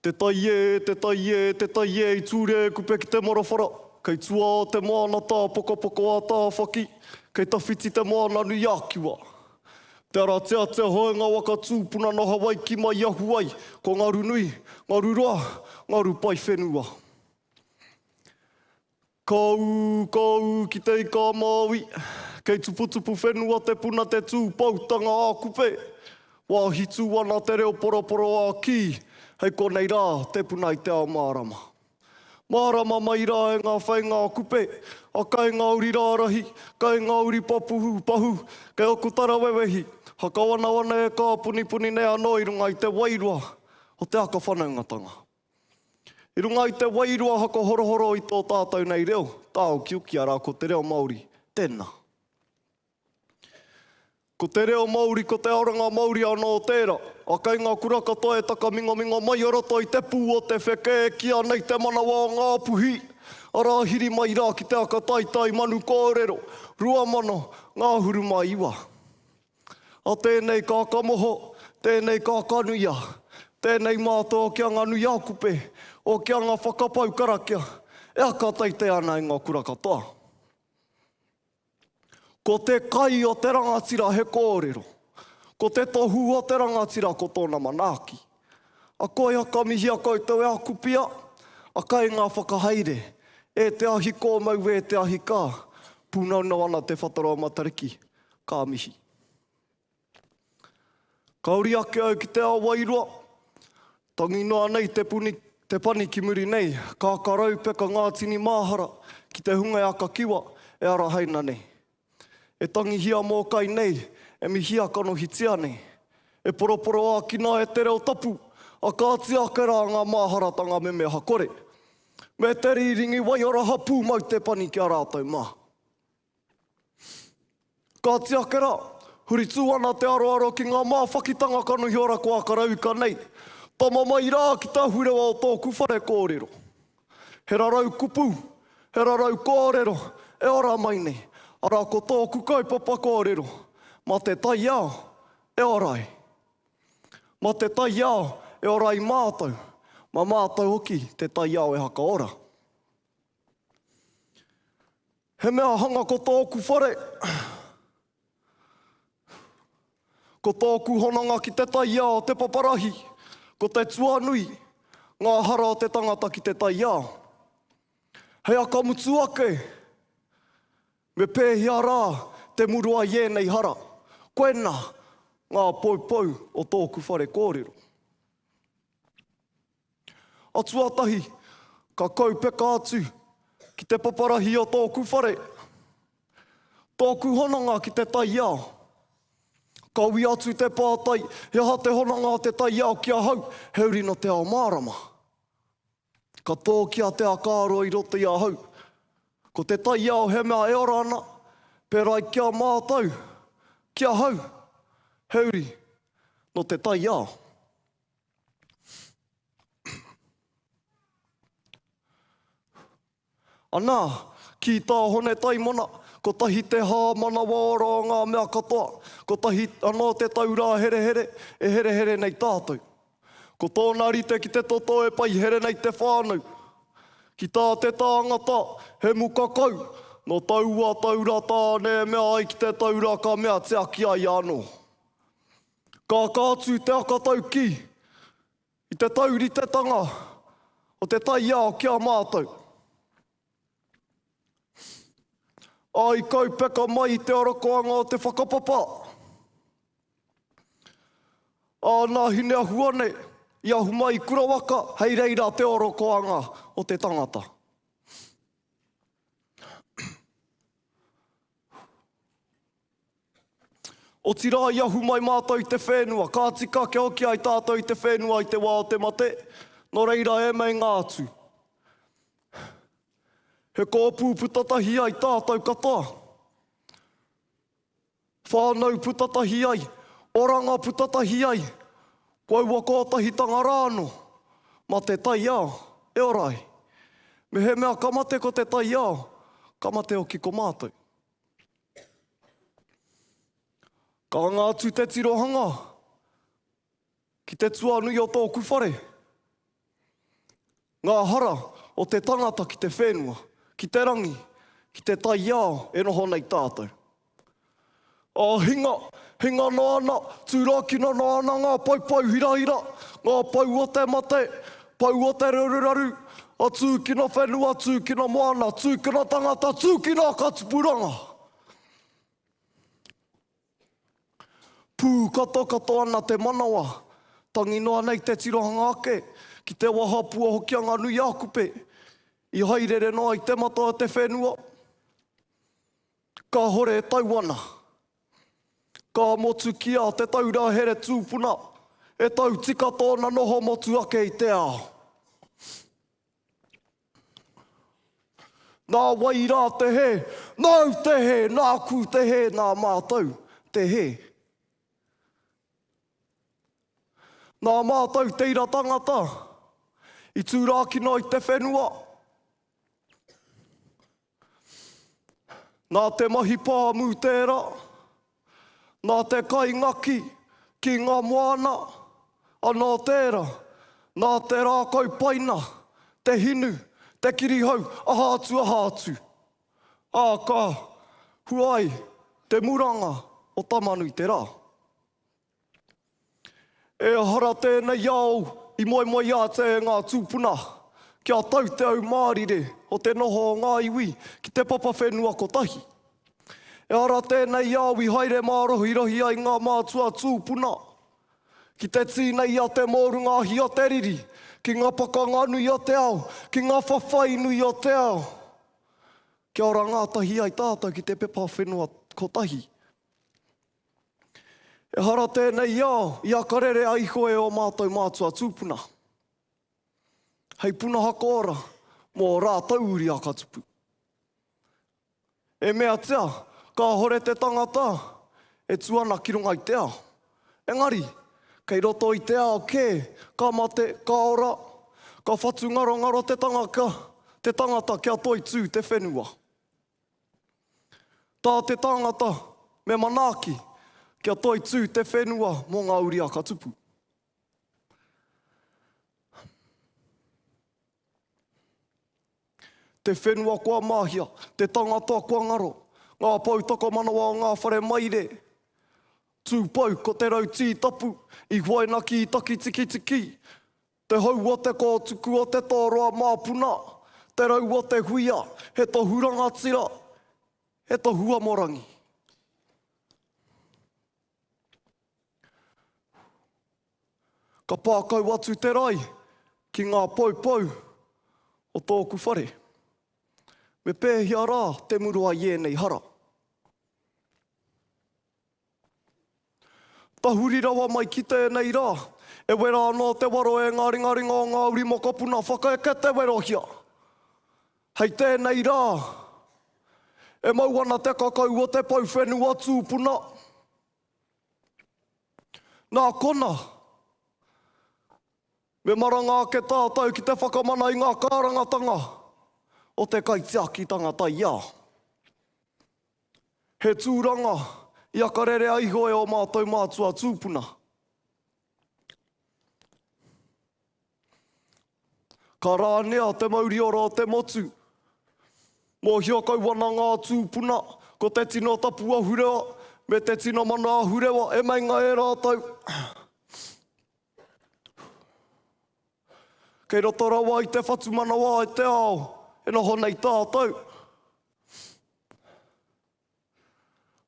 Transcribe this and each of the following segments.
Te tai e, te tai e, te tai e i ture kupe ki te marawhara Kei tua o te moana tā Pokopoko a Tāwhaki Kei tawhiti te moana nui a Kiwa Te arateatea hoe nga waka tūpuna no Hawaiki mai i ahu ai Ko Ngarunui, Ngaruroa, Ngarupai whenua. Kōu, kōu ki te ika a Māui. Kei tuputupu whenua te puna te tū poutanga a Kupe. Wāhi tū ana te reo poroporo a Kī, hei konei rā te puna i te ao mārama. Mārama mai rā e ngā whainga a Kupe, a Kaingauri rārahi, Kaingauri papuhu, pahu, kei aku tarawewehi, hakawanawana e kāpunipuni nei anō i runga i te wairua o te aka whanaungatanga. I runga i te wairua haka horohoro i tō tātou nei reo, tāukiukia rā ko te reo Māori tēnā. Ko te reo Māori, ko te oranga Māori anō tērā. A kei ngā kura katoa e takamingaminga mai o roto i te pū o te wheke e kīa nei te manawa o Ngā Puhi, arā hiri mai rā ki te aka taitai manu kōrero, 2000, Ngāhuru mā 9. A tēnei ka kamoho, tēnei ka kanuia, tēnei mātao ki a nga nui ākupe, o ki a nga whakapau karakia, e aka teitei ana e nga kura katoa. Ko te kai o te rangatira he kōrero, ko te tohu o te rangatira ko tōna manaaki. A koia ka mihia koutou e aku pia, a kainga whakahaere, e te ahi kōmau e te ahi ka, pūnaunau ana te whatarau matariki. Ka mihi. Ka uri ake au ki te ao wairua, tangi noa nei te puni, te pani ki muri nei, ka karau peka ngā tini māhara ki te hunga e aka kiwa, e arahaina nei. E tangihia mōkai nei, e mihia kanohitia nei. E poroporoakina e te reo tapu, a kāti ake rā ngā māharatanga memeha kore. Me te rīringi waiora hapū mau te pani ki a rātou mā. Kāti ake rā, huri tū ana te aroaro ki ngā māwhakitanga kanohi ora ko Akarauika nei, tama mai rā ki te ahurewa o tōku whare kōrero. He rarau kupu, he rarau kōrero e ora mai nei, arā ko tōku kaupapa kōrero, mā te taiao e ora ai. Mā te taiao e ora ai mātou, mā mātou hoki te taiao e hakaora. He mea hanga ko tōku whare. Ko tōku hononga ki te taiao te paparahi, ko te tuanui, ngā hara o te tangata ki te taiao. Hei aka mutu ake, me pēhea rā te murua i ēnei hara? Koinā ngā poupou o tōku whare kōrero. A tuatahi, ka kaupeka atu ki te paparahi o tōku whare, tōku hononga ki te taiao. Kawia atu te pātai, he aha te hononga o te taiao ki ahau, he uri nō te ao mārama. Ka tōki a Te Akaaro i roto i ahau, ko te taiao he mea e ora ana, pērā i ki a mātou, ki ahau, he uri nō te taiao. Anā, ki tā Hone Taimana, kotahi te hā manawaora o ngā mea katoa, kotahi anō te taurā herehere e herehere nei tātou. Ko tōna rite ki te toto e paihere nei te whānau. Ki tā te tāngata, he muka kau, nō taua taura tāne e mea ai ki te taura ka mea tiaki ai anō. Ka aka atu te aka taukī i te tauritetanga o te taiao ki a mātou. Ā, i kaupeka mai i te arakoanga o te whakapapa, ā, nā Hineahua nei i ahu mai i Kurawaka hei reira te arakoanga o te tangata. Otirā i ahu mai mātou i te whenua, ka tika kia hoki ai tātou i te whenua i te wā o te mate, nō reira e meinga atu. He kōpū puta tahi ai tātou katoa. Whānau puta tahi ai, oranga puta tahi ai, ko aua kōtahitanga rā anō, mā te taiao e ora ai. Mehemea ka mate ko te taiao, ka mate hoki ko mātou. Ka anga atu te tirohanga ki te tuanui o tōku whare, ngā hara o te tangata ki te whenua, ki te rangi, ki te taiao e noho nei tātou. Ā, hinga, hinga noa ana, tūrākina noa ana ngā poupou hirahira, ngā pou o te mate, Poua te raruraru, a tūkino whenua, tūkino moana, tūkino tangata, tūkino katupuranga! Pūkatokato ana te manawa, tangi noa nei te tirohanga ake ki te wahapua hoki a ngā nui ākupe i hairere noa i te matau a te whenua. Kahore e tau ana. Ka motukia te taura here tūpuna, e tau tika tōna noho motu ake i te ao. Nā wai rā te hē? Nāu te hē, nāku te hē, nā mātou te hē. Nā mātou te ira tangata i tūrākina i te whenua. Nā te mahi pāmu tērā, nā te kai ngaki ki ngā moana, anō tērā, nā te rākau paina, te hinu, te kirihau, aha atu, aha atu. Ā, ka hua ai te muranga o Tamanui-te-rā. Ehara tēnei ao i moemoeā atu e ngā tūpuna kia tau te au mārire o te noho o ngā iwi ki te papa whenua kotahi. Ehara tēnei ao i haere mārohirohi ai ngā mātua tūpuna ki te tīna i a te mōrunga ahi a te riri, ki ngā pakanga nui o te ao, ki ngā whawhai nui o te ao, kia ora ngātahi ai tātou ki te pepa whenua kotahi. Ehara tēnei i a, i a ka rere a iho e ō mātou mātua tūpuna. Hei punaha koora mō ō rātou uri a ka tupu. E meatia, kāhore te tangata e tu ana ki runga i te ao. Engari, kei roto i te ao kē, ka mate, ka ora, ka whatu ngarongaro te tangaka, te tangata kia toitū te whenua. Tā te tangata, me manaaki kia toitū te whenua mō ngā uri a ka tupu. Te whenua kua māhia, te tangata kua ngaro, ngā pou takamanawa o ngā whare maire, tūpou ko te rau tītapu i huaina ki takitikitiki, Te hou o te kōtuku o te tōroa māpuna, te rau o te huia, he tohu rangatira, he tohu amorangi. Ka pā kau atu te rae ki ngā poupou o tōku whare. Me pēhea rā te muru ai ēnei hara? Tahuri rawa mai ki tēnei rā. E wera anō te waro e ngā ringaringa o ngā uri mokopuna whakaeke te werohia. Hei tēnei rā, e mau ana te kakau o te pou whenua tūpuna. Nā kona, me maranga ake tātou ki te whakamana i ngā kārangatanga o te kaitiakitanga taiao. He tūranga, i akarerea iho e ō mātou mātua tūpuna. Ka rānea te mauriora o te motu. Mōhio kau ana ngā tūpuna, ko te tino tapu ahurewa me te tino mana ahurewa e meinga e rātou. Kei roto rawa i te whatumanawa i te ao e noho nei tātou.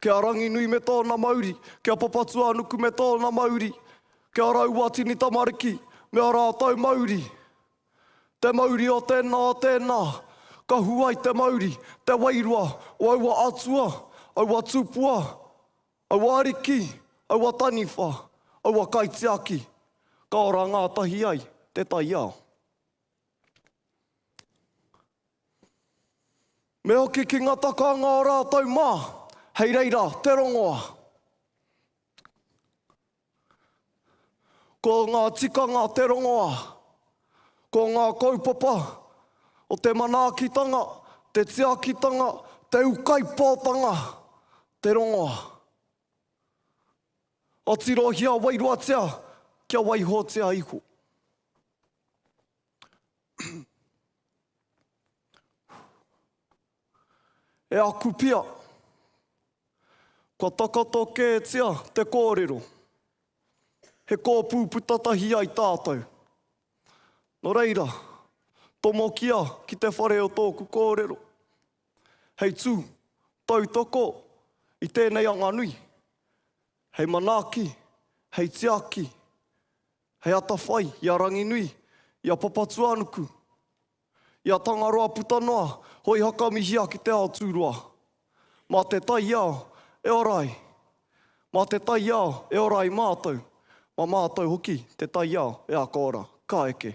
Ki a Ranginui me tōna mauri, ki a Papatūānuku me tōna mauri, ki a Rauatini tamariki me ō rātou mauri. Te mauri o tēnā, o tēnā, ka hua i te mauri, te wairua o aua atua, aua tupua, aua ariki, aua taniwha, aua kaitiaki, ka ora ngātahi ai te taiao. Me hoki ki ngā takaanga o rātou mā, hei reira te rongoa. Ko ngā tikanga te rongoa, ko ngā kaupapa o te manaakitanga, te tiakitanga, te ukaipōtanga, te rongoa. Atirohia wairuatia kia waihotia iho. E aku pia, kua takoto kētia te kōrero, he kōpū puta tahi ai tātou. Nō reira, tomokia ki te whare o tōku kōrero, hei tū tautoko i tēnei anganui, hei manaaki, hei tiaki, He atawhai i a Ranginui, i a Papatuanuku, i a Tangaroa puta noa, hoi hakamihia ki te ao tūroa. Mā te taiao e ora ai. Mā te taiao e ora ai mātou, mā mātou hoki te taiao e ako ora. Ka eke.